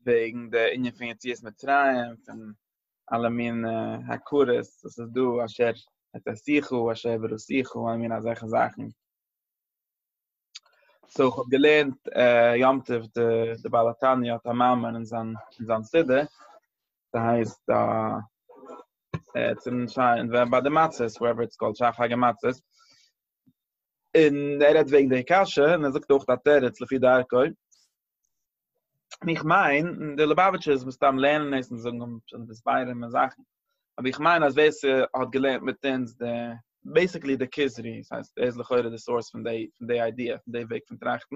וועגן די ענין פון יציאת מצרים פון אלע מין הכרות וואס איז דא אשר את עשיך אשר בראשיך אלע מין אזעלכע זאכן סאו איך האב געלערנט יום טוב די בעל התניא האט א מאמר אין זיין אין זיין סידור ס'הייסט צום שיין ווען ביי די מצות ווערעווער איטס קאלד שייך פאר מצות און ער רעדט וועגן די קשיא און ער זאגט אויך א תירוץ לפי דרכו און איך מיין, און די ליובאוויטשערס מסתם לערנען עס און זאגן און זענען מסבירים און זאכן, אבער איך מיין אז ווער ס'האט געלערנט מיט אונז די, בעיסיקלי די כוזרי, עס הייסט, ער איז לכאורה די סאורס פון די, פון די איידיע, פון די וועג פון טראכטן,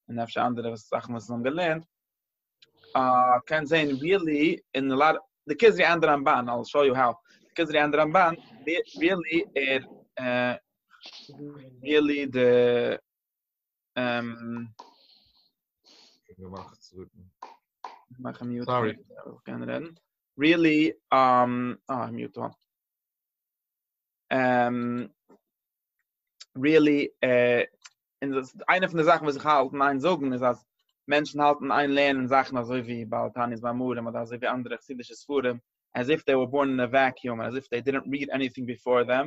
און אפשר אנדערע וואס זאכן וואס זיי האבן געלערנט, אה, קען זעהן ריעלי, און א לאט, די כוזרי ענד רמבן, איי וויל שאו יו האו, די כוזרי ענד רמבן, ריעלי ער, אה, ריעלי די. אממ. געמאכט צוויטן. מאך מיוט. סארי. קען רעדן. ריעלי, אממ, אה, מיוט אן. אממ. ריעלי, אה, און דאס איז איינע פון די זאכן וואס איך האלט און איין זאגן איז אז מענטשן האלטן איין לערנען זאכן אזוי ווי בעל תני'ס מאמרים אדער אזוי ווי אנדערע חסידישע ספרים as if they were born in a vacuum as if they didn't read anything before them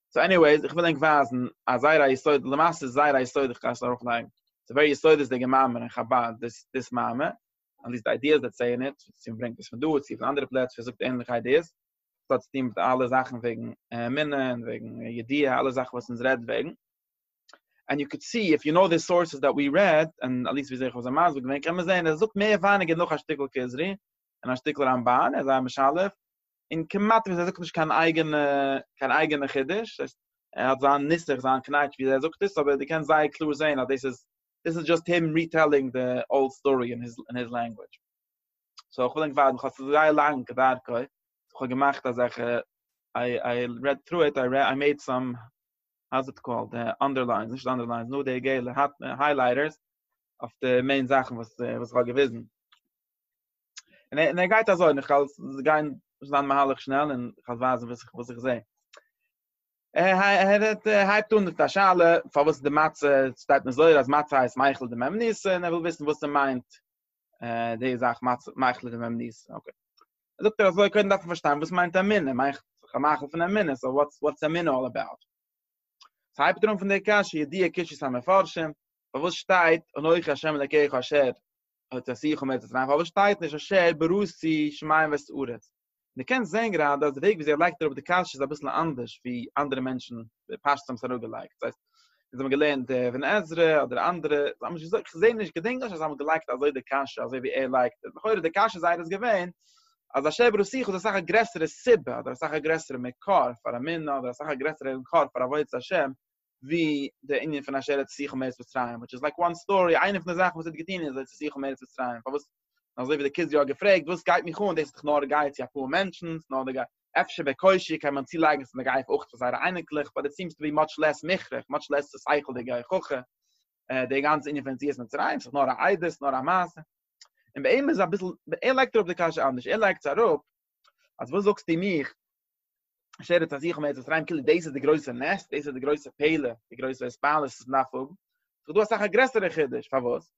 סאו עניוועיס, איך וויל ענק ווייזן א זייער א יסוד, למעשה איז זייער א יסוד איך גיי עס ארויף לייגן, ס'איז ווערי יסודות'דיגע מאמר אין חבד דאס דאס מאמר, אטליסט די איידיעס דערצו אין איט, צו מ'ברענגט עס פון דא צו פון אנדערע פלעצער וואס זאגט ענליכע איידיעס, וואס האט צוטון מיט אלע זאכן וועגן אמונה און וועגן ידיעה אלע זאכן וואס אונז רעדט וועגן. ענד יו קען סי איף יו נאו די סאורסעס דעט ווי רעד, און אטליסט וויאזוי איך האב זיי מסביר געווען קען מען זען אז ער זאגט מער ווייניגער נאך א שטיקל כוזרי און א שטיקל רמבן, ער איז זייער משלב, און כמעט ווי אזוי זאגט נישט קיין אייגענע קיין אייגענע חידוש דאס הייסט ער האט זיין נוסח זיין קנייטש ווי אזוי ער זאגט עס אבער די קענסט זייער קלאר זעהן אז דאס איז דאס איז דזשאסט הים ריטעלינג די אולד סטארי אין היז אין היז לענגווידזש סאו איך וויל ענק ווארטן כ'האב עס זייער לאנג כדרכו כ'האב געמאכט אזעלכע איי איי רעד טרו איט איי איי מעיד סאם האו איז איט קאלד די אנדערליינס נישט אנדערליינס נאר די געלע היילייטערס אויף די מעין זאכן וואס וואס כ'האב געוויזן. און ער גייט אזוי, איך גייט גיין זיין מהלך שנעל, און איך וועל ווייזן וואס איך זעה. ער הייבט אן מיט א שאלה, פארוואס די מצה, שטייט אין זוהר אז מצה הייסט מייחל די מ' ניסן, און ער וויל וויסן וואס ער מיינט די זאך מצה, מייחל די מ' ניסן, אקעי. זאגט ער אזוי, קודם דארף מען פארשטיין וואס מיינט אמונה, מייחל, מייחל פון אמונה, סאו וואטס אמונה אלל אבאוט? סאו הייבט ער אן פון די קשיא, ידוע קשיות המפרשים, פארוואס שטייט אנכי ה' אלקיך אשר האט ער זיך אומעט דערצו אויף שטייט נישט אשר ברוסי שמים וסעורת די קענסט זען גראדע אז די וועג ווי זי לייגט אראפ די קשיא איז אביסל אנדערש ווי אנדערע מענטשן די פשט האבן עס אראפגעלייגט דאס הייסט אונז האבן געלערנט די אבן עזרא אדער אנדערע זיי האבן נישט געזאגט איך זעה נישט געדענק נישט אז זיי האבן געלייגט אזוי די קשיא אזוי ווי ער לייגט עס לכאורה די קשיא זייער איז געווען אז אשר ברוסי האט אסאך א גרעסערע סיבה אדער אסאך א גרעסערע מקור פאר א מנין אדער אסאך א גרעסערע מקור פאר עבודת השם ווי די ענין פון אשר את עשיך מארץ מצרים, וויטש איז לייק וואן סטארי, איינע פון די זאכן וואס ער האט געטון איז את עשיך מארץ מצרים, פארוואס, אזוי ווי די קיז יא האט געפרעגט, וואס גייט מיך אן, דאס איז דאך נאר א גייד צו אפאר מענטשן, ס'איז נאר די גייד, אפשר בער קושיא קען מען צולייגן אז ס'איז די גייד אויך פאר זייערע אייניקלעך, באט איט סיעמס טו בי מאטש לעס מוכרח, מאטש לעס צו שכל'דיג א הוכחה, די גאנצע ענין פון יציאת מצרים, ס'איז נאר א איידעס, ס'איז נאר א מעשה. און באמת איז אביסל, ער לייגט אראפ די קשיא אנדערש, ער לייגט עס אראפ, אז וואס זאגסטו מיך, שערט אז איך מיינט עס ריין כאילו דאס איז די גרויסע נס דאס איז די גרויסע פעלע די גרויסע ספאלעס איז נאך פון איך דו אסאך א גרעסערע חידוש פאר וואס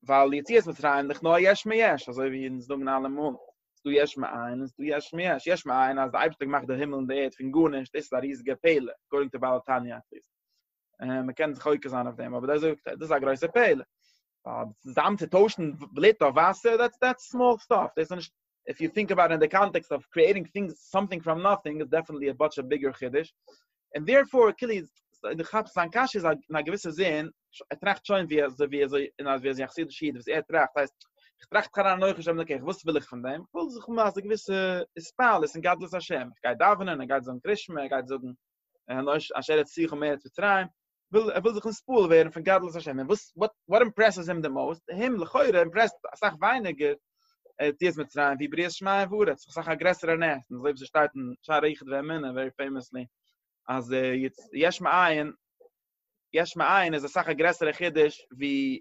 ווייל יציא עס מיט ריין לך נא יש מי יש אזוי ווי אין זונגן אלע מאל דו יש מי אין איז דו יש מי יש יש מי אין אז די אייבשטאג מאכט די הימל און די ערד פון גארנישט דאס איז א ריזיגע פעלע גארינג טו באלטאניא אה, מען קען זיך חוקר זיין אויף דעם, אבער דאס זאגט ער, דאס איז א גרויסע פעלער. אה, צוזאם צו טוישן בלוט אויף וואסער, דעטס דעטס סמאל סטאף, דאס איז נישט, איף יו טינק אבאוט אין די קאנטעקסט אוו קריעטינג טינגס, סאמטינג פראם נאטינג, איז דעפענטלי א מאטש ביגער חידוש. און דערפאר, כאילו, דו כאפסט זיין קשיא איז אין א געוויסע זין, ער טראכט שוין ווי אזוי ווי אזוי און אז ווי אזוי א חסידישע איד וואס ער טראכט, הייסט, איך טראכט כנראה נוח השם אלוקיך, וואס וויל איך פון דעם? איך וויל זיך מאכן א געוויסע התפעלות און גדלות השם. איך גיי דאווענען, ער גייט זאגן קרישמע, ער גייט זאגן און אנ ש אשר את שיחו מארץ מצרים, וויל ער וויל זיך נספּועל ווערן פון גדלות השם, און וואס וואט וואט אימפּרעסס הים די מאוסט, אים לכאורה אימפּרעסט אסאך ווייניגער יציאת מצרים ווי בריאת שמים וארץ, אסאך א גרעסערע נס, און אזוי ווי ס'שטייט אין שערי איחוד ואמונה ווערי פעימעסלי אז יש מאין יש מאין איז אסאך א גרעסערע חידוש ווי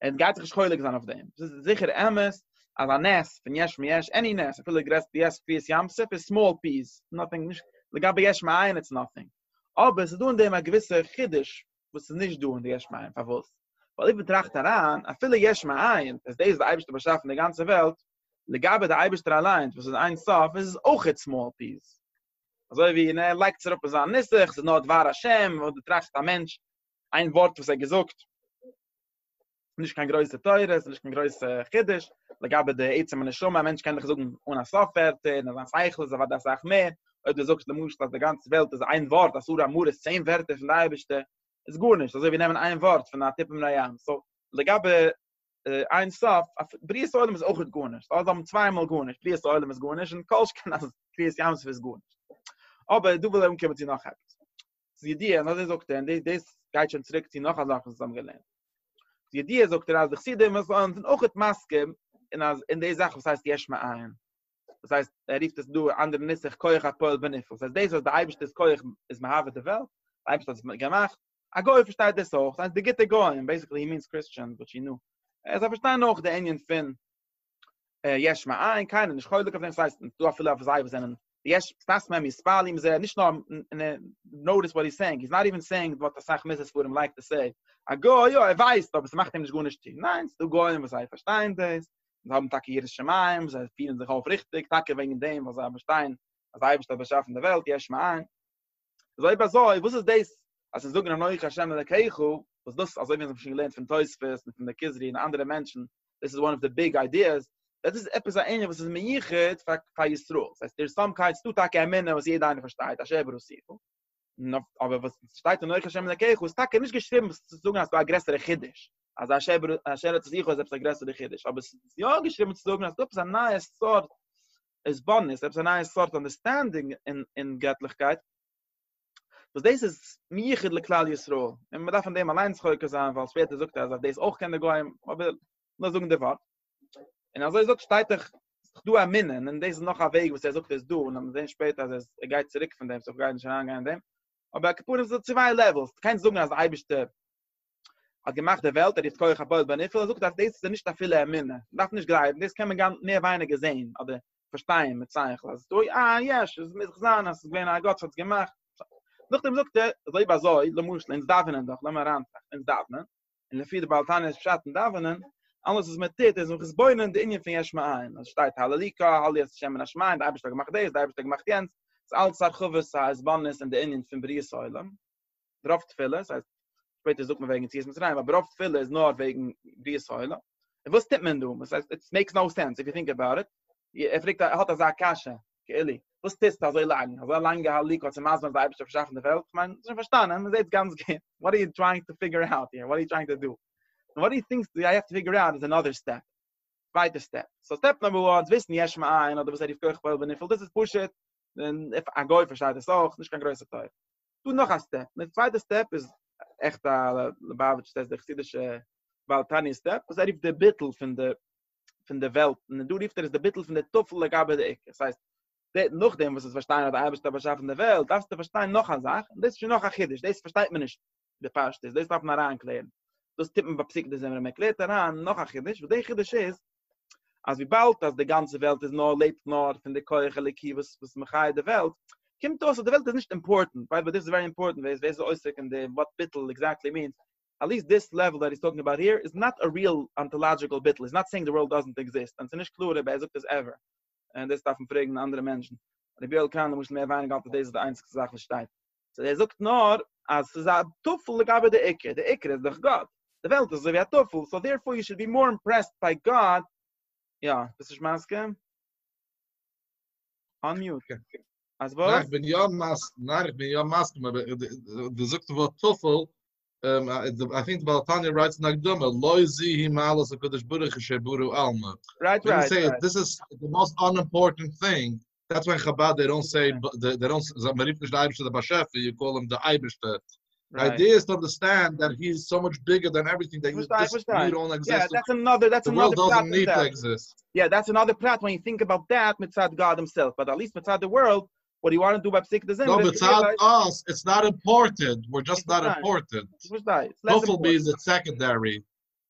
עס גייט זיך נישט חולק זיין אויף דעם, עס איז זיכער אמת אז א נס פון יש מיש, עני נס, אפילו די גרעסטע יעס קביעות ים סוף איז סמאל פיס, נאטינג, נישט, לגבי יש מאין איטס נאטינג, אבער עס איז דא אין דעם א געוויסע חידוש וואס איז נישט דא אין די יש מאין, פארוואס? ווייל אויב מען טראכט אריין, אפילו יש מאין, עס דאס האט די אייבערשטער באשאפן די גאנצע וועלט, לגבי די אייבערשטער אליינס וואס איז אין סוף איז עס אויכעט סמאל פיס, אזוי ווי און ער לייגט עס אראפ אין זיין נוסח, עס איז נאר דבר השם, אויב די טראכסט א מענטש איין ווארט וואס ער האט געזאגט נישט קיין גרויסע תורות, נישט קיין גרויסע חידוש, לגבי די עצם הנשמה, א מענטש קען דיך זאגן אן א סוף ווערטער, און זיין שכל איז אוודאי אסאך מער, אויב דו זאגסט למשל אז די גאנצע וועלט איז איין ווארט, אסור אמור איז צען ווערטער פון די אייבערשטער, איז גארנישט, אזוי ווי נעמען איין ווארט פון א טיפה מן הים, סאו, לגבי איין סוף, בריאת העולם איז אויכעט גארנישט, אלזא האבן צוויי מאל גארנישט, בריאת העולם איז גארנישט, און כל שכן אז קריעת ים סוף איז גארנישט. אבער דא וויל ער אנקומען צו נאך עפעס. די ידיעה און אזוי זאגט ער און דאס דאס גייט שוין צוריק צו נאך א זאך וואס האבן געלערנט די ידיעה זאגט ער אז די חסידים וואס זענען אויך האט מסכים אין אז אין די זאך וואס הייסט יש מאין וואס הייסט ער רופט עס דא אנדערע נוסח כח הפועל בנפעל דאס דאס וואס די אייבערשטע איז כח איז מהווה די וועלט אייבערשט האט עס געמאכט א גוי פארשטייט דאס אויך זיינס די גוטע גויים בעיסיקלי הי מינס קריסטשענס באט יו נו ער זאל פארשטיין אויך די ענין פון יש מאין קיינער נישט חולק אויף דעם ס'הייסט דא אפילו אויף זיי וואס זענען יש סטאס מען מיס פאלים זע נישט נאר נאטיס וואט איז סעינג איז נאט איווען סעינג וואט אסאך מיסס פאר דעם לייק טו סעי א גוי יא ער ווייסט אבער ס'מאכט אים נישט גארנישט טון ניין ס'דא גויים וואס זיי פארשטיין דאס זיי האבן טאקע יראת שמים זיי פירן זיך אויף ריכטיג טאקע וועגן דעם וואס זיי פארשטיין אז אייבישטער האט באשאפן די וועלט יש מאין איז אויב אזוי, וואס איז דאס אז זיי זאגן אנוכי השם אלקיך, וואס דאס אזוי ווי אונז האבן שוין געלערנט פון תוספות און פון די כוזרי און אנדערע מענטשן, דאס איז וואן אוו די ביג איידיעס, דאס איז עפעס א ענין וואס איז מיוחד פאר פאר ישראל, דאס הייסט דער איז סאם קייט, ס'דא טאקע אמונה וואס יעדע איינער פארשטייט, השי ת ברא שכל, אבער וואס שטייט אנוכי השם אלקיך איז טאקע נישט געשריבן צו זאגן אז ס'דא א גרעסערע חידוש, אז השי ת ברא שכל איז עפעס א גרעסערע חידוש, אבער ס'איז יא געשריבן צו זאגן אז ס'דא עפעס א נייע סארט איז באניס, עפעס א נייע סארט אנדערסטענדינג אין געטליכקייט, וואס דאס איז מיוחד לכלל ישראל, און מ'דארף אין דעם אליינס חוקר זיין, ווייל שפעטער זאגט ער אז אויף דאס אויך קען די גוים, אבער נאר זאגן די ווארט. און אזוי זאגט שטייט דאך, ס'איז דאך דא א מנין, און דאס איז נאך א וועג וואס ער זאגט עס דא, און מ'וועט זען שפעטער אז ער גייט צוריק פון דעם, סאו כ'גיי נישט אריינגיין אין דעם, אבער על כל פנים ס'איז דא צוויי לעוועלס, דו קענסט זאגן אז די אייבערשטער האט געמאכט די וועלט ער איז כח הפועל בנפעל ער זאגט אז דאס איז נישט אפילו אמונה מ'דארף נישט גלייבן דאס קען מען מער ווייניגער זעהן אדער פארשטיין מיט שכל אז דא אה יש עס מוז זיין אז עס איז געווען א גאט וואס האט עס געמאכט נאכדעם זאגט ער אז אויב אזוי למשל אונז דאווענען דאך לאמיר אריינטראכטן אונז דאווענען און לפי די בעל תניא איז פשט אין דאווענען אלעס וואס מען טוט איז מען מתבונן די ענין פון יש מאין אז שטייט הללי ק הללי את השם מן השמים די אייבערשטער האט געמאכט דאס די אייבערשטער האט געמאכט יענץ איז אלץ הרחבת העזבאנעס אין די ענין פון בריאת העולם ברוב תפילה, דאס הייסט שפעטער זאגט מען וועגן יציאת מצרים, אבער רוב תפילה איז נאר וועגן בריאת העולם. און וואס טוט מען דא? וואס הייסט, איטס מעיקס נאו סענס איף יו טינק אבאוט איט. ער פרעגט, ער האט אזא קשיא, כאילו, וואס טוסטו אזוי לאנג? אזא לאנגע הליקות צו מסביר אז די אייבערשטער האט באשאפן די וועלט? כ'מיין, דאס האב איך פארשטאנען, מ'זעט עס גאנץ גוט. וואט אר יו טרייאינג טו פיגור אוט היער? וואט אר יו טרייאינג טו דו? און וואט אר טינקסט אי העוו טו פיגור אוט איז אנאדער סטעפ. צווייטע סטעפ. סאו סטעפ נומבער וואן, צו וויסן יש מאין, אדער וואס ער רופט כח פועל בנפעל, דאס איז פשוט, און א גוי פארשטייט עס אויך, נישט קיין גרויסע תורה. דא נאך א סטעפ, די צווייטע סטעפ איז עכט א ליבאוויטש סטעפ, די חסידישע בעל תניא סטעפ, וואס ער רופט די ביטול פון די פון די וועלט, און דא רופט ער עס די ביטול פון די טפל לגבי די עיקר, עס הייסט, נאכדעם וואס דו האסט פארשטאנען אז די אייבערשטער האט באשאפן די וועלט, דארפסטו פארשטיין נאך א זאך, און דאס איז שוין נאך א חידוש, דאס פארשטייט מען נישט בפשטות, דאס דארף מען אריינקלערן, דאס טוט מען ביי פסיקתא דזמרא, מען קלערט אריין נאך א חידוש, וואס די חידוש איז, אז וויבאלד אז די גאנצע וועלט איז נאר לעבט נאר פון די כח אלוקי וואס וואס מחיה די וועלט, קומט אויס אז די וועלט איז נישט אימפארטענט, ביידע באט דיס איז ווערי אימפארטענט, ווער איז עוסק אין די וואט ביטול עקזעקטלי מינס, עליסט דיס לעוועל דעט היז טאלקינג אבאוט העיר איז נאט א ריעל אנטאלאדזשיקעל ביטול, היז נאט סעינג די ווארלד דאזענט עקזיסט, און עס איז נישט קלאר אויב ער זאגט דאס עווער, און דאס דארף מען פרעגן אנדערע מענטשן, רבי יואל קאהן למשל מער ווייניגער האלט אז דאס איז די איינציגסטע זאך וואס שטייט. סאו ער זאגט נאר אז ס'איז א טפל לגבי די עיקר, די עיקר איז דאך גאט, די וועלט איז אזוי ווי א טפל, סאו דערפאר יו שוד בי מאר אימפרעסד ביי גאט, יא, ביסט נישט מסכים? אנמיוט. אז וואס? ניין, כ'בין יא מסכים, ניין, כ'בין יא מסכים, אבער די זאגסט די ווארט טפל, איי טינק די בעל תניא רייט אין די הקדמה, לא זי היא מעלת הקדוש ברוך הוא שבורא עלמא. רייט רייט רייט. דיס איז די מאסט אנאימפארטענט טינג. דעטס וואי אין חבד דעי דאנט סעי דעי דאנט סעי מען רופט נישט די אייבערשטער דער באשעפער יו קאל אים די אייבערשטער די איידיע איז טו אנדערסטענד דעט הי איז סאו מאטש ביגער דען עווריטינג דעט יו דזשאסט ניד אן עקזיסטענס דעטס אנאדער דעטס אנאדער פרט אין דעם יא דעטס אנאדער פרט ווען יו טינק אבאוט דעט מצד גאד הימסעלף באט עטליעסט מצד די ווארלד וואט יו וואנט דא ביי פסיקת דזעמער נאר מצד אס איטס נאט אימפארטענט וויר דזשאסט נאט אימפארטענט טפל בי איז איטס סעקענדערי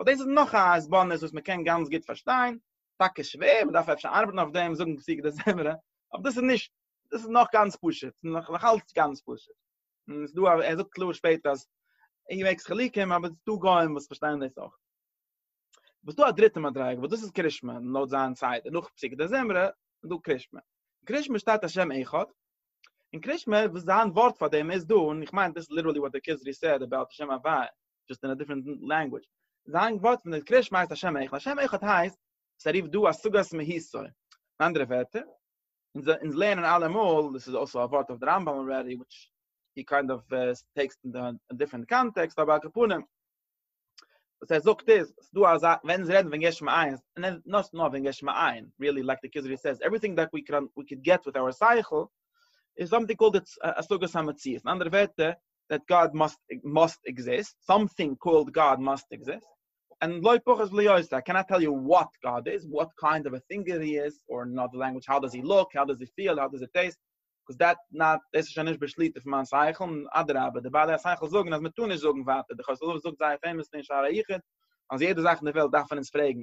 אבער דאס איז נאך א הסבר'ניש וואס מען קען גאנץ גוט פארשטיין, טאקע שווער, מען דארף אפשר ארבעטן אויף דעם, זאגן פסוקי דזמרה, אבער דאס איז נישט, דאס איז נאך גאנץ פשוט, נאכאלץ גאנץ פשוט, און עס איז דא, ער זאגט קלאר שפעטער אז אי וועגס חילוקים, אבער עס איז דא גוים וואס פארשטייען דאס אויך. וואס דא א דריטע מדריגה וואס דאס איז קרישמע, לויט זיין סדר, נאך פסוקי דזמרה איז דא קרישמע. אין קרישמע שטייט השם אחד, אין קרישמע וואס זיין ווארט פאר דעם איז דא, און איך מיין דאס איז ליטערלי וואט דער כוזרי סעד אבאוט השם הוויה, just in a different language זיין ווארט פון די קרישמע הייסט השם איך השם איך הייסט עס ריפט דא א סוגת מהיסוי אין אנדערע ווערטער אונז אונז לערנען אלעמאל דאס איז אלסא א ווארט אויף די רמב ם אלרעדי וויטש הי קיינד אוו טעקסט אין א דיפרענט קאנטעקסט אבער על כפנים וואס ער זאגט איז עס דא אזא ווען אונז רעדן ווען גשם עין און נאט נאר ווען גשם עין ריעלי לייק די כוזרי סעז עווריטינג דעט ווי קען ווי קען געט וויט אווער סייכל איז זאמטינג קאלד א סוגת המציאות אין אנדערע ווערטער דעט גאד מאסט מאסט עקזיסט, סאמטינג קאלד גאד מאסט עקזיסט, און לא פחות ולא יותר, איי קענאט טעל יו וואט גאד איז, וואט קיינד אוו א טינקער הי איז, אר אין אנאדער לענגוויטש האו דאז הי לוק, האו דאז הי פיעל, האו דאז הי טעיסט, קאוז דעט נאט, דאס איז שוין נישט בשליטה פון מיין שכל, און אדרבה, די בעלי השכל זאגן אז מען טאר נישט זאגן ווייטער, דער חת ס זאגט זייער פעימאסלי אין שער היחוד, אז יעדע זאך אין די וועלט דארף מען אונז פרעגן,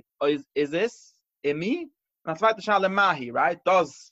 איז עס, אימי? און א צווייטע שאלה מהי, רייט? דאז.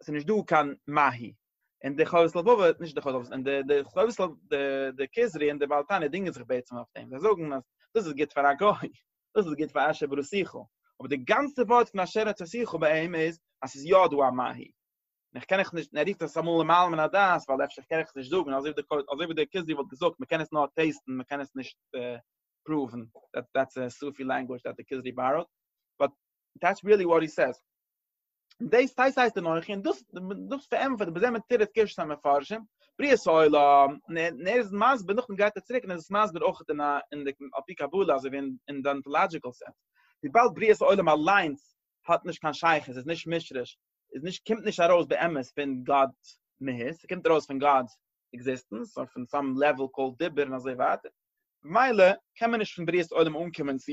עס איז נישט דא קיין מהי. און די חובת לבבות, נישט די חובת לבבות, און די די חובת לב, די די כוזרי און די בעל תניא דינגען זיך בעצם אויף דעם, זיי זאגן אז דאס איז גוט פאר א גוי, דאס איז גוט פאר אשר ברא שיחו, אבער די גאנצע ווארט פון אשר יצר שיחו בהם איז אז ס'איז יא דא א מהי. און איך קען איך נישט, און ער רופט עס אמאל למעלה מן הדעת, ווייל אפשר קען איך עס נישט זאגן, אזוי ווי די אזוי ווי די כוזרי וואלט געזאגט מען קען עס נאר טעסטן מען קען עס נישט פראוון, דעטס א סופי לענגוויטש דעט די כוזרי באראד, באט דעטס ריעלי וואט הי סעיז. און דאס טייס הייסט אנוכי, און דאס דאס פארענטפערט בזה מתירת קשת המפרשים, בריאת העולם, און ער איז מסביר, נאכדעם גייט ער צוריק און איז עס מסביר אויך אין א אין די על פי קבלה אזוי ווי אין די אנטאלאדזשיקעל סענס, וויבאלד בריאת העולם אליינס האט נישט קיין שייכות, איז נישט משרש, איז נישט קומט נישט ארויס באמת פון גאט'ס מהות, ס'קומט ארויס פון גאט'ס עקזיסטענס, אויף אן סאם לעוועל קאלד דיבור און אזוי ווייטער, ממילא קען מען נישט פון בריאת עולם אנקומען צו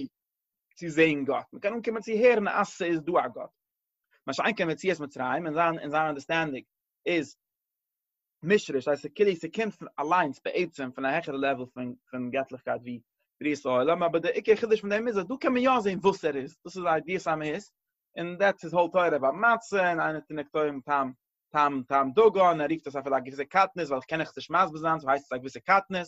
צו זען גאט מען קען אנקומען צו הערן אז ס'איז דא א גאט מה שאין כן מציאות מצרים אין זיין אין זיין אנדערסטענדינג איז מישריש אז ס'קעלי ס'קומט פון אליינס בעצם פון א העכערע לעוול פון פון געטליכקייט ווי בריאת העולם אבער דער עיקר חידוש פון דעם איז אז דא קען מען יא זען וואס ער איז דאס איז ידיעת המהות און דעטס איז הויל תורה ביי מצה און איינער טונקט אויבן טעם טעם טעם דגן ער רופט עס אפילו א געוויסע קטנות ווייל איך קען עכ ז נישט מסביר זיין סאו הייסט עס א געוויסע קטנות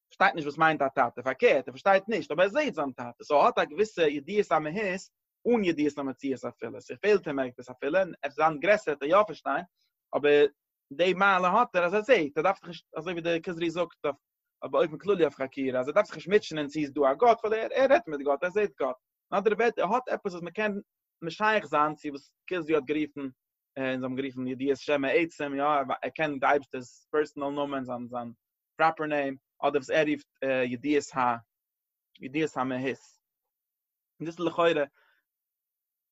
פארשטייט נישט וואס מיינט א טאטע, פארקערט ער פארשטייט נישט אבער ער זעהט זיין טאטע סאו ער האט א געוויסע ידיעת המהות אן ידיעת המציאות אפילו, ס'איז פעלט אים עפעס אפילו און עפעס זיין גרעסער וועט ער יא פארשטיין אבער די מעלה האט ער אז ער זעהט ער דארף זיך נישט אזוי ווי די כוזרי זאגט אויף אויף באופן כללי אויף חקירה אז ער דארף זיך נישט מוטשען אין צו איז דא א גאט ווייל ער ער רעדט מיט גאט ער זעהט גאט אין אנדערע ווערטער ער האט עפעס וואס מ'קען משייך זיין צו וואס כוזרי האט גערופן און זיי האבן גערופן ידיעת שם העצם יא ער קען די אייבערשטער'ס פערסענעל נאמען זיין זיין פראפער נעים אדער וואס ער רופט ידיעות ה ידיעות המהות און דאס איז לכאורה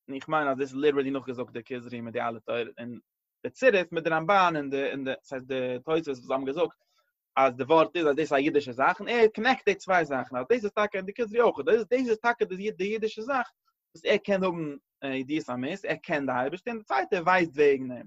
און איך מיין אז דאס איז ליטערלי נאכגעזאגט די כוזרי מיט די אלע תורות און די צירוף מיט די רמבן און די און די דאס הייסט די תוספות וואס זיי האבן געזאגט אז די ווארט איז אז דאס איז א אידישע זאך און ער קאנעקט די צוויי זאכן אז דאס איז טאקע און די כוזרי אויך דאס איז טאקע די אידישע זאך וואס ער קען האבן ידיעות המהות ער קען די אייבערשטער און די צווייטע ווייסט וועגן אים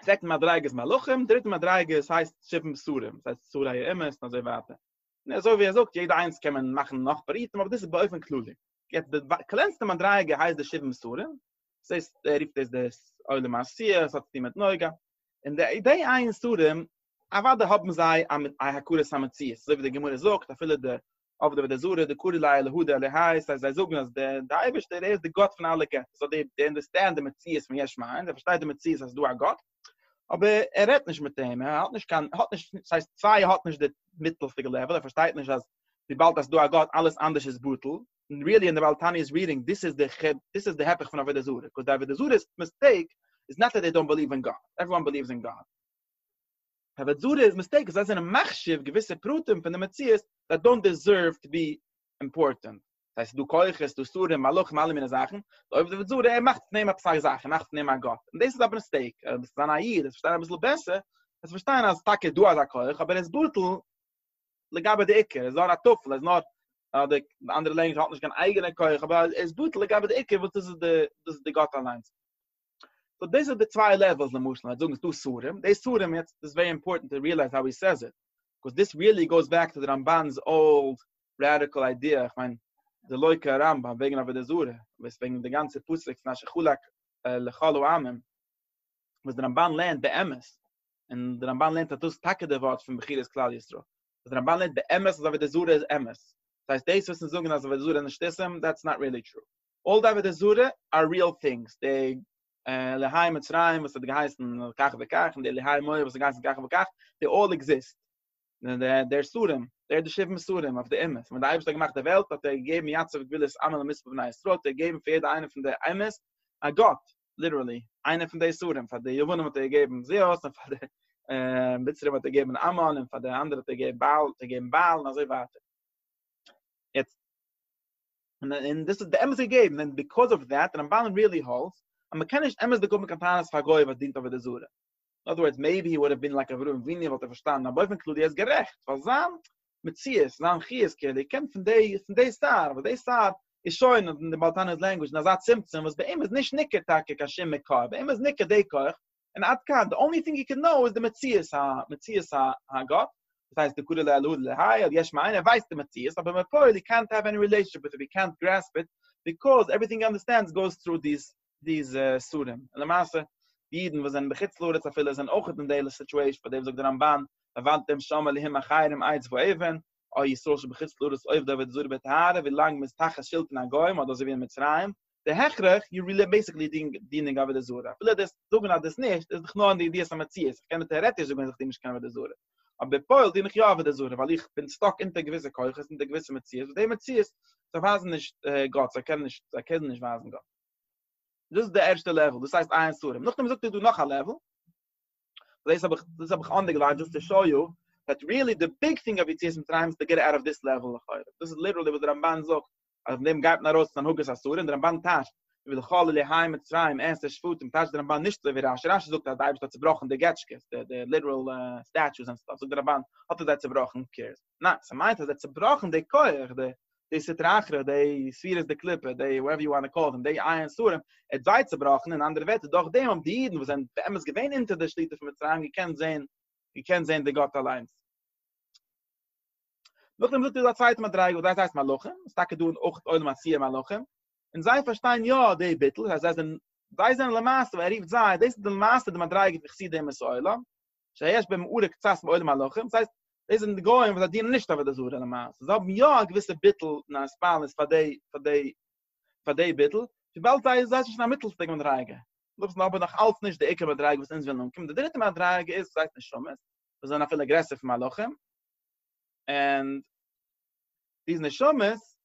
צווייטע מדריגה איז מלאכים, דריטע מדריגה איז הייסט שבעים בשרים, ס'הייסט בשרי האמת און אזוי ווייטער. און אזוי ווי ער זאגט, יעדע איינס קען מען מאכן נאך פרטים, אבער דאס איז באופן כללי. יעצט די קלענסטע מדריגה הייסט די שבעים בשרים, ס'איז, ער רופט דאס די עולם העשיה, ס'האט צוטון מיט נוגה. און די די עין ספרים, אוודאי האבן זיי א הכרת המציאות, אזוי ווי די גמרא זאגט, אפילו די עובדא ודע זרא דקורא ליה להודא עליה הייסט אז זיי זאגן אז דער דער אייבערשטער ער איז די גאט פון אלע געטער סאו דעי דעי אנדערסטענד די מציאות פון יש מאין זיי פארשטייט די מציאות אז ס'איז דא א גאט אבער ער רעדט נישט מיט אים ער האט נישט קיין ער האט נישט ס'הייסט סיי ער האט נישט די מיטלפיגע לעוועל ער פארשטייט נישט אז וויבאלד אז ס'דא א גאט אלעס אנדערש איז בטל און ריעלי אין די בעל תניא'ס רידינג דאס איז די חו דאס איז די היפך פון עבודה זרה ביקאוז די עבודה זרה מיסטעיק איז נאט דעט דעי דאנט בעליוו אין גאט עוועריוואן בעליווס אין גאט. האבער דזארא איז מיסטעיקן זיי זענען מחשיב געוויסע פרטים פון די מציאות דעט דאנט דעזערוו טו בי אימפארטענט ס'הייסט ס'דא כוחות ס'דא שרים מלאכים אלע מיני זאכן די עובדא דזארא ער מאכט פון אים עפעס א זאך ער מאכט פון אים א גאט און דאס איז א מיסטעיק אויב ביסטו זיין א איד וועסטו פארשטיין אביסל בעסער וועסטו פארשטיין אז טאקע איז דא אזא כח אבער ער איז בטל לגבי די עיקר ער איז נאר א טפל ער איז נאר א די אנדערע לענגוויטש האט נישט קיין אייגענע כח אבער ער איז בטל לגבי די עיקר וואס דאס איז די דאס איז די גאט אליינס סאו דאס איז די צוויי לעוועלס למשל מ'וועט זאגן ס'דא סרים, די סרים יעצט איז ווערי אימפארטענט טו ריעלייז האו הי סעיז איט, קאוז דיס ריעלי גאוס בעק טו די רמבן'ס אולד ראדיקעל איידיע, איך מיין די לוי' קרא רמבן וועגן עבודה זרה, וואס וועגן די גאנצע פסוק פון אשר חלק ה' לכל העמים, וואס די רמבן לערנט באמת, און די רמבן לערנט אז דאס איז טאקע די ווארט פון בחירת כלל ישראל, וואס די רמבן לערנט באמת אז עבודה זרה איז אמת, דאס הייסט דאס וואס אונז זאגן אז עבודה זרה איז נישט סרים, דעטס נאט ריעלי טרו. אל די עבודה זרה אר ריעל טינגס, די עלהי מצרים וואס האט געהייסן כך וכך, און די עלהי מואב וואס האט געהייסן כך וכך, זיי אלל עקזיסט, דער סדום, דער האט די שבעה מסדום אויף די אמת, און ווען די אייבערשטער האט געמאכט די וועלט האט ער געגעבן יצב גבולות אמה למספר בני ישראל, האט ער געגעבן פאר יעדע איינע פון די אומות א גאט, ליטערלי, איינע פון די סדום, פאר די יוונים האט ער געגעבן זעאוס, און פאר די מצרים האט ער געגעבן אמן, און פאר די אנדערע האט ער געגעבן בעל, און אזוי ווייטער. יעצט. און און דאס איז די אמת געגעבן און ביקאוז אויף דעט די רמבן ריעלי האלטס אז מען קען נישט אמת דערקעגן מיט קיין טענות פאר א גוי וואס דינט עבודה זרה. אין אדער ווארדס מעיבי הי וואלד האוו בין לייק אברהם אבינו וואלט ער פארשטאנען אבער באופן כללי ער איז גערעכט ווייל זיין מציאות זיין חיות כעלער קומט פון די פון די סארט וואס די סארט איז שוין אין די בעל תנא'ס לענגווידזש אין אזא צמצום וואס ביי אים איז נישט ניכר טאקע קיין שום מקור ביי אים איז ניכר די כח און עד כאן, די אנלי טינג יו קען נאו איז די מציאות ה, מציאות ה, הגאט, דאס הייסט די קודא לאלא דלא היה, די יש מאין, ער ווייסט די מציאות, אבער בפועל יו קענט העוו עני רילעישאנשיפ וויט איט, יו קענט גרעספ איט, ביקאז עווריטינג יו אנדערסטענד גאוס טרו דיס, דיס סדום, און למעשה, די אידן וואס זענען בחוץ לארץ אפילו זענען אויך אין די סיטואשען, פאר דעם זאגט די רמב ן, לבנתם שם אלהים אחרים עץ ואבן, או ישראל שבחוץ לארץ עובדה ותזורה בטהרה, ווי לאנג מען איז תחת שלטון הגוים, אדער אזוי ווי אין מצרים, די הכרח, יו רילי בעסיקלי דואינג דינינג עבודה זרה, אפילו דאס זאגן אז דאס נישט, איז דאך נאר אין די ידיעת המציאות, איך קען דיר טעארעטיש זאגן אז איך דין נישט קיין עבודה זרה, אבער בפועל דין איך יא עבודה זרה, ווייל איך בין סטאק אונטער געוויסע כוחות, אונטער געוויסע מציאות, וואס די מציאות, זיי ווייזן נישט גאט, זיי קענען נישט, זיי קענען נישט ווייזן גאט. דאס איז די ערשטע לעוועל, דאס הייסט עיין ספרים. נאכדעם זאגט ער דא נאך א לעוועל, דאס האב איך, דאס האב איך אנדערגליינט דזשאסט טו שאו יו, דעט רילי די ביג טינג אויף יציאת מצרים איז טו געט אוט אוו דיס לעוועל לכאורה, דאס איז ליטערלי וואס די רמבן זאגט, אז פון דעם גייט מען ארויס צו הנהגת אסור און דער רמבן טייטשט ולכל אלה היי מצרים עשר שפתים טייטשט דער רמבן נישט אזוי ווי רשי, רשי זאגט אז דער אייבערשטער האט צובראכן די געטשקעס, די די ליטעראל סטעטשוס און סטאף, זאגט דער רמבן האט ער זיי צובראכן, הא קעירס, ניין, ס'מיינט אז ער האט צובראכן די כח, די די סטרא אחרא, די ספירת די קליפה, די וואטעווער יו וואנט טו קאל דעם, די איי און סורים, ער האט זיי צובראכן, אין אנדערע ווערטער דורך דעם האבן די אידן וואס זענען באמת געווען אונטער די שליטה פון מצרים געקענט זען געקענט זען די גאט אליינס. נאכדעם זאגט ער דא א צווייטע מדריגה וואס דאס הייסט מלאכים, עס איז טאקע דא און אויך עולם העשייה מלאכים, און זיי פארשטיין יא די ביטול, דאס הייסט זיי זענען למעשה ווען ער רופט זיי, דאס איז די למעשה די מדריגה פון חסידי אומות העולם, שיש בהם מעורר קצת מעולם מלאכים, דאס הייסט דאס זענען די גוים וואס זיי דינען נישט עבודה זרה למעשה, זיי האבן יא א געוויסע ביטול און א הספנות פאר די פאר די פאר די ביטול, וויבאלד זיי זיי זענען נישט אין א מיטלדיגע מדריגה, זאגט מען אבער נאך אלץ נישט די עיקר מדריגה וואס אונז ווילן אנקומען, די דריטע מדריגה איז וואס הייסט נשמות, וואס זענען אפילו גרעסער פון מלאכים, און די נשמות,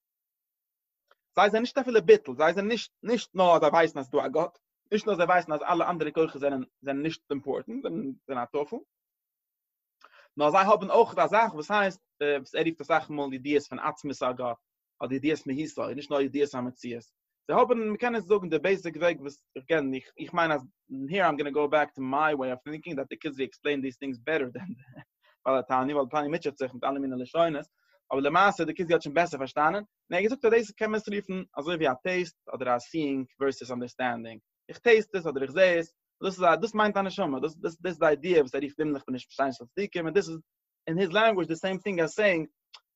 זיי זענען נישט אפילו ביטול, זיי זענען נישט, נישט נאר זיי ווייסן אז ס'דא א גאט, נישט נאר זיי ווייסן אז אלע אנדערע כוחות זענען, זענען נישט אימפארטענט, זענען, זענען א טפל, נאר זיי האבן אויך אזאך וואס הייסט, וואס ער רופט אסאך מאל ידיעות פון עצמות א גאט, אדער ידיעות מהיסוד נישט נאר ידיעות המציאות זיי האבן מען קען עס זאגן די בעיסיק וועג וואס איך קען איך איך מיין אז היער איים גאנא גאו בעק טו מיי וועי אף טינקינג דעט די כוזרי עקספלעינד דיס טינגס בעטער דען די בעל התניא ווייל די תניא מוטשעט זיך מיט אלע מיני לשונות אבער למעשה די כוזרי האט שוין בעסער פארשטאנען און ער האט געזאגט אז דאס קען מען עס רופן אזוי ווי א טעיסט אדער א סיאינג ווערסעס אנדערסטענדינג איך טעיסט עס אדער איך זעה עס דאס איז א דאס מיינט א נשמה דאס דאס איז די איידיע וואס ער רופט הימלעך פון נישט באשיינען של צדיקים און דאס איז אין היז לענגוויזש די סעים טינג אז סעינג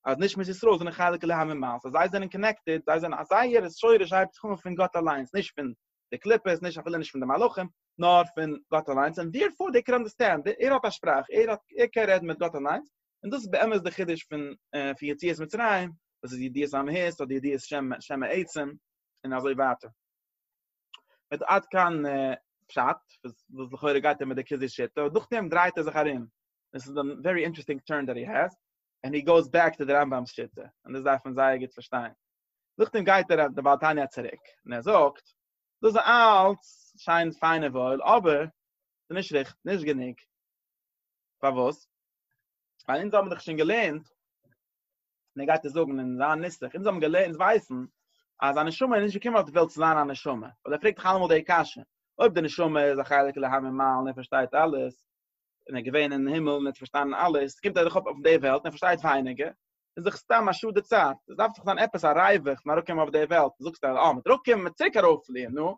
אז נישט מיט ישראל זענען חלק אלהים ממעל סאו זיי זענען קאנעקטעד זיי זענען א זייער שורש הייבט זיך אן פון גאט אליינס נישט פון די קליפות נישט אפילו נישט פון די מלאכים נאר פון גאט אליינס און דערפאר דער קען אנדערסטענד ער האט א שפראך ער האט ער קען רעדן מיט גאט אליינס און דאס איז באמת די חידוש פון פון יציאת מצרים וואס איז ידיעת המהות אדער ידיעת שם העצם און אזוי ווייטער מיט עד כאן פשט וואס לכאורה גייט ער מיט די כוזרי שיטה און נאכדעם דרייט ער זיך ארום דאס איז א ווערי אינטערעסטינג טורן דעט הי העז און הי גאוס בעק טו די רמב ם'ס שיטה און דאס דארף מען זייער גוט פארשטיין נאכדעם גייט ער אויף די בעל תניא צוריק און ער זאגט דאס איז אלץ שיין פיין און וואויל אבער ס'איז נישט ריכטיג נישט גענוג פארוואס ווייל אונז האבן דאך שוין געלערנט און ער גייט עס זאגן אין זיין נוסח, אונז האבן געלערנט אונז ווייסן אז א נשמה איז נישט געקומען אויף די וועלט צו זיין א נשמה, ווייל ער פרעגט דאך אלעמאל די קשיא, אויב די נשמה איז א חלק אלהים ממעל און ער פארשטייט אלעס, און ער איז געווען אין הימל און ער האט פארשטאנען אלעס, קומט ער דאך אויף אויף די וועלט און ער פארשטייט ווייניגער, איז דאך סתם א שאד די צייט, עס דארף דאך זיין עפעס א ריווח פון אראפקומען אויף די וועלט, זאגסטו אז אה, מ'דארף אראפקומען, מ'צוריק ארויפפליען, נו,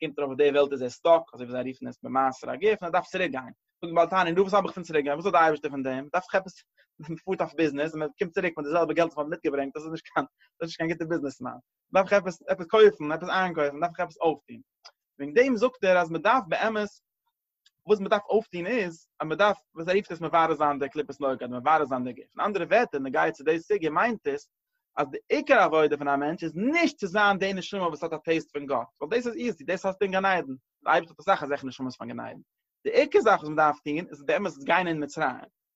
קומט ארויף אויף די וועלט איז ער סטאק, אזוי ווי זיי רופן עס במעשר הגוף, און ער דארף צוריק גיין. זאגט בעל תניא, נו וואס האב איך פון צוריק גיין, וואס האט די אייבערשטער פון דעם, דארף איך עפעס, מען פארט אויף ביזנעס און מען קומט צוריק מיט די זעלבע געלט וואס מען האט מיטגעברענגט, דאס איז נישט קיין, דאס איז נישט קיין גוטע ביזנעס מאן. דארף איך עפעס, עפעס קויפן, עפעס איינקויפן, דארף איך עפעס אויפטון. וועגן דעם זאגט ער אז מען דארף באמת וואס מען דארף אויפטון איז אז מען דארף וואס ער רופט עס מברר זיין די קליפת נוגה אדער מברר זיין די גוף אין אנדערע ווערטער אין נוגע צו די סוגיא מיינט עס אז די עיקר עבודה פון א מענטש איז נישט צו זיין די נשמה וואס האט א טעיסט פון גאט ווייל דאס איז איזי דאס האסטו אין גן עדן דער אייבערשטער האט אסאך אזעלכע נשמות פון גן עדן די עיקר זאך וואס מען דארף טון איז באמת גיין אין מצרים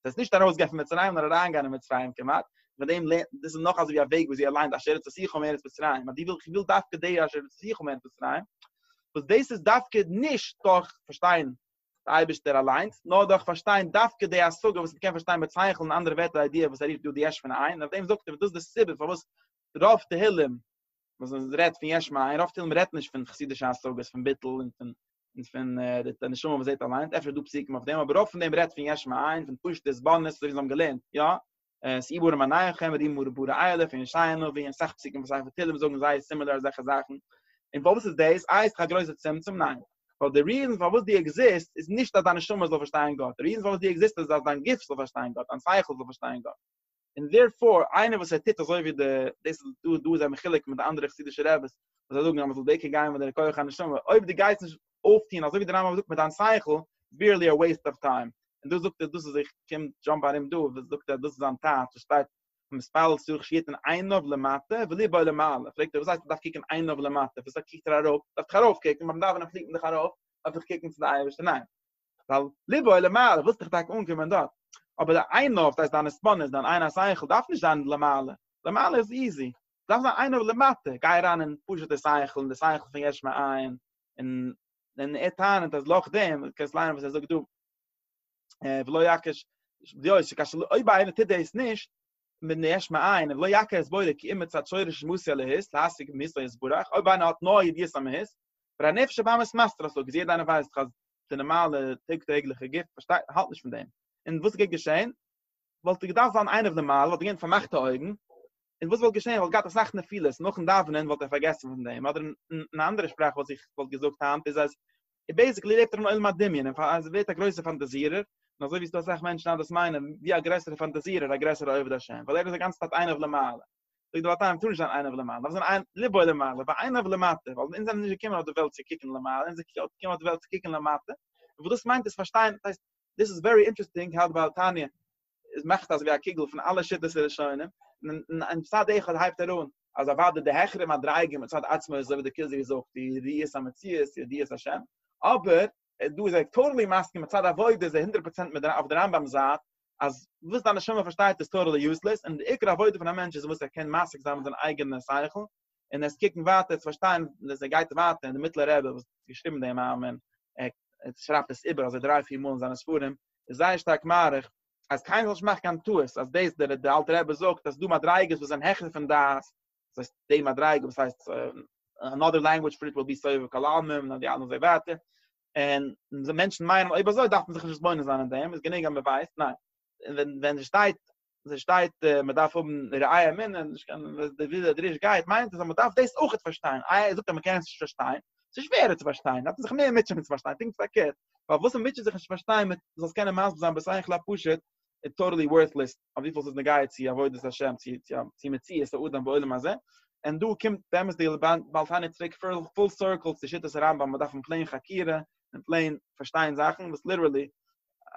זי איז נישט ארויסגעגאנגען פון מצרים נאר אריינגעגאנגען אין מצרים כמעט, מיט דעם לערנט, דאס איז נאך אזויווי א וועג וואס זי אליין די אשר יצאתיך פון ארץ מצרים, אז די ווילסט, איך וויל דווקא די אשר יצאתיך פון ארץ מצרים, וואס דאס איז דווקא נישט דורך פארשטיין די אייבערשטער אליינס, נאר דורך פארשטיין דווקא די השגה וואס מ'קען פארשטיין מיט שכל און אנדערע ווערטער איידיע וואס ער רופט דא די יש מאין, און אויף דעם זאגט ער וואס דאס איז די סיבה פארוואס רוב תהלים וואס מען רעדט פון יש מאין רוב תהלים רעדט נישט פון חסידישע השגות פון ביטול און פון און פון די נשמה וואס זעט אליינס אפשר דא פסוקים אויף דעם אבער רוב פון דעם רעדט פון יש מאין פון פשוטע זבניות אזוי ווי זיי האבן געלערנט יא עס איבור אין מניחם רי מור בור איילף אין שיינע ווי אין סך פסוקים וואס הייבן תהלים זאגן זיי סימילער אזעלכע זאכן און פארוואס איז דאס איי ס'איז א גרויסע צמצום ניין ווייל די ריזן פארוואס דו עקזיסט איז נישט אז דיין נשמה זאל פארשטיין גאט די ריזן פארוואס דו עקזיסט איז אז דיין גוף זאל פארשטיין גאט דיין שכל זאל פארשטיין גאט און דערפאר איינער וואס ער טוט אזוי ווי די דאס איז דא דא איז זיי מחולק מיט די אנדערע חסידישע רעבעס וואס זיי זאגן אז מען זאל דוקא גיין מיט דער כח הנשמה אויב דו גייסט נישט אויפטוהן אזוי ווי דער רמב ם זאגט מיט דיין שכל בירלי א וועיסט אוו טיים און דאס זאגט ער דאס איז איך קום דזשאמפ ארום דא וואס זאגט ער דאס איז זיין טענה וואס שטייט מתפלל צריך שיתן עיניו למטה וליבו למעלה פרעגט ער וואס הייסט מען דארף קוקן עיניו למטה וואס קוקט ער ארויף דארף איך ארויף קוקן ביים דאווענען פליט מען דאך ארויף דארף איך קוקן צו די אייבערשטער ניין ווייל ליבו אל למעלה ווילסט דיך טאקע אנקומען דארט, אבער די עיניו, דאס הייסט דיין עספנות, דיין עין השכל דארף נישט זיין למעלה, למעלה איז איזי, דארף זיין עיניו למטה, גיי אריין אין פשוטע שכל, אין די שכל פון יש מאין, און און ער טענה'ט אז לאור דעם, דו קענסט ליינען וואס ער זאגט דא, ולא יעקש דיעות, כאשר אויב איינער טוט דאס נישט, מן היש מאין ולא יקה הסברה כי אם מצד שורש מוסיא להיס להשיג מהיס לא יסברך אויב איינער האט נאר ידיעת המהיס אבער הנפש הבאמת מסתרה סאו יעדער איינער ווייסט דאך אז די נארמאלע טאג טעגליכע גוף פארשטייט האלט נישט פון דעם און וואס גייט געשען וואלט ער געדארפט זיין עיניו למעלה וואלט ער געווען מיט פארמאכטע אויגן און וואס וואלט געשען ער וואלט געהאט אסאך נפילות נאכן דאווענען וואלט ער פארגעסן פון דעם אדער אין אן אנדערע שפראך וואס איך וואלט געזאגט היינט איז אז און בעיסיקלי לעבט ער אין עולם הדמיון און פאר אז ער ווערט א גרויסער פאנטאזירער, און אזוי ווי ס'דא אסאך מענטשן אז דאס מיינען ווי א גרעסערע פאנטאזירער א גרעסערע עובד השם, ווייל ער איז די גאנצע צייט איינער ולמעלה. זאגט די באר טיים מ'טאר נישט זיין איינער ולמעלה, מ'דארף זיין איין ליבו למעלה ואינו ולמטה, ווייל אונז זענען נישט געקומען אויף די וועלט צו קוקן למעלה, אונז זענען געקומען אויף די וועלט צו קוקן למטה, און וואס דאס מיינט איז פארשטיין, דאס הייסט, דאס איז ווערי אינטערעסטינג, האלט ביי תניא, איז מאכט אזווי א קוגל פון אלע שיטות הראשונים, און און צד אחד הייבט ער אן, אז אוודאי די העכערע מדריגה מצד עצמו איז אזוי ווי דער כוזרי זאגט ידיעת המציאות ידיעת השם, אבער דא איז ער טאטעלי מסכים מצד עבודה איז ער הונדרעט פראצענט מיט אויף די רמב ם'ס זייט, אז וואס דיין נשמה פארשטייט איז טאטעלי יוזלעס, און די עיקר עבודה פון א מענטש איז וואס ער קען משיג זיין מיט זיין אייגענע שכל, און ער איז קוקן ווייטער צו פארשטיין וואס ער גייט ווייטער און די מיטלער רבי וואס האט געשריבן דעם מאמר ער שרייבט עס איבער אזוי דריי פיר מאל אין זיינע ספרים איז זייער שטארק מאריך אז קיינער זאל נישט מאכן קיין טעות אז דאס דער דער אלטער רבי זאגט אז ס'דא מדריגות וואס זענען העכער פון דעת דאס הייסט די מדריגה וואס הייסט אנאדער לענגוויטש פאר איט וויל בי סובב כל העלמין און די אלע און אזוי ווייטער און מענטשן מיינען אויב אזוי דארף מען זיך נישט מתבונן זיין אין דעם איז גענוג אז מען ווייסט ניין און ווען ווען עס שטייט זיי שטייט מען דארף האבן ראיה אמינע נישט קיין די וויזע דריש גייט מיינט אז מען דארף דאס אויך פארשטיין איי ער זאגט אז מען קען עס נישט פארשטיין ס'איז שווערער צו פארשטיין דארף מען זיך מער מוטשען מיט צו פארשטיין פונקט פארקערט פאר וואס מען מוטשעט זיך נישט צו פארשטיין מיט זאלסט קענען מסביר זיין בסך הכל פשוט איז טאטעלי ווארטלעס אויף וויפיל ס'איז נוגע צו עבודת השם צו צו מציאות האדם בעולם הזה און דא קומט באמת די בעל תניא צוריק פול סירקל צו שיטת הרמבם מען דארף אין פלעין חקירה אין פלעין פארשטיין זאכן וואס ליטערלי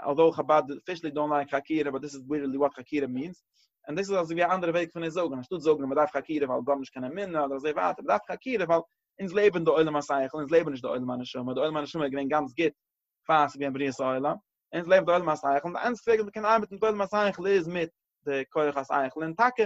אלזאו חבד אפישעלי דאנט לייק חקירה באט דיס איז ליטערלי וואט חקירה מיענס און דאס איז אזויווי א אנדערע וועג פון עס זאגן אנשטאט זאגן אז מען דארף חקירה ווייל גארנישט קען אמונה אדער אזוי ווייטער מען דארף חקירה ווייל אונז לעבן די עולם השכל אונז לעבן נישט די עולם הנשמה די עולם הנשמה איז געווען גאנץ גוט פאר ס'איז געווען בריאת העולם אונז לעבן די עולם השכל און די איינציגסטע וועג ווי מען קען ארבעטן מיט די עולם השכל איז מיט די כח השכל און טאקע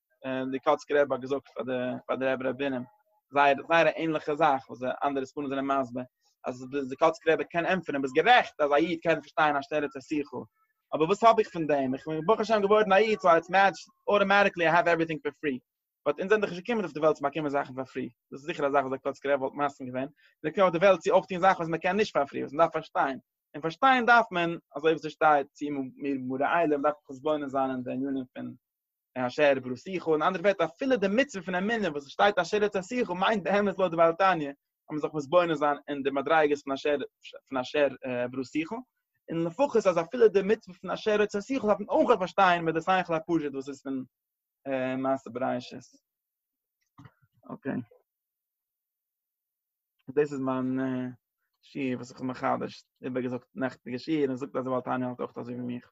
און די קאצקער רבי האט געזאגט פאר די פאר די רבי רבינים זייער זייער א ענליכע זאך וואס די אנדערע ספרים זענען מסביר אז די די קאצקער רבי קען ענטפערן ביסט גערעכט אז א איד קען פארשטיין א שטערע צעסיכו אבער וואס האב איך פון דעם איך בין ברוך השם געווארן א איד סאו איטס מעטש אוטאמאטיקלי איי העוו עווריטינג פאר פרי באט אונז זענען דאך נישט געקומען אויף די וועלט צו באקומען זאכן פאר פרי דאס איז זיכער א זאך וואס די קאצקער רבי וואלט מסכים געווען מיר זענען געקומען אויף די וועלט צו אויפטון זאכן וואס מען קען נישט פאר פרי וואס מען דארף פארשטיין און פארשטיין דארף מען אזוי ווי ס'שטייט צו מיר מראה עליהם דארף מען חשבונא זיין אין די ענינים פון און אשר ירבה לו שיחו, אין אנדערע ווערטער אפילו די מצוה פון אמונה וואס עס שטייט אשר ירצה שיחו מיינט באמת לויט די בעל תניא אז מען זאל זיך מתבונן זיין אין די מדריגות פון אשר פון אשר ירבה לו שיחו, און לפחות אז אפילו די מצוה פון אשר ירצה שיחו דארף מען אויך פארשטיין מיט די שכל הפשוט וואס איז פון מעשה בראשית. אקעי. דאס איז מיין שיעור וואס איך האב מחדש איבערגעזאגט נעכטיגע שיעור און זאגט אז די בעל תניא האלט אויך אזוי ווי מיך.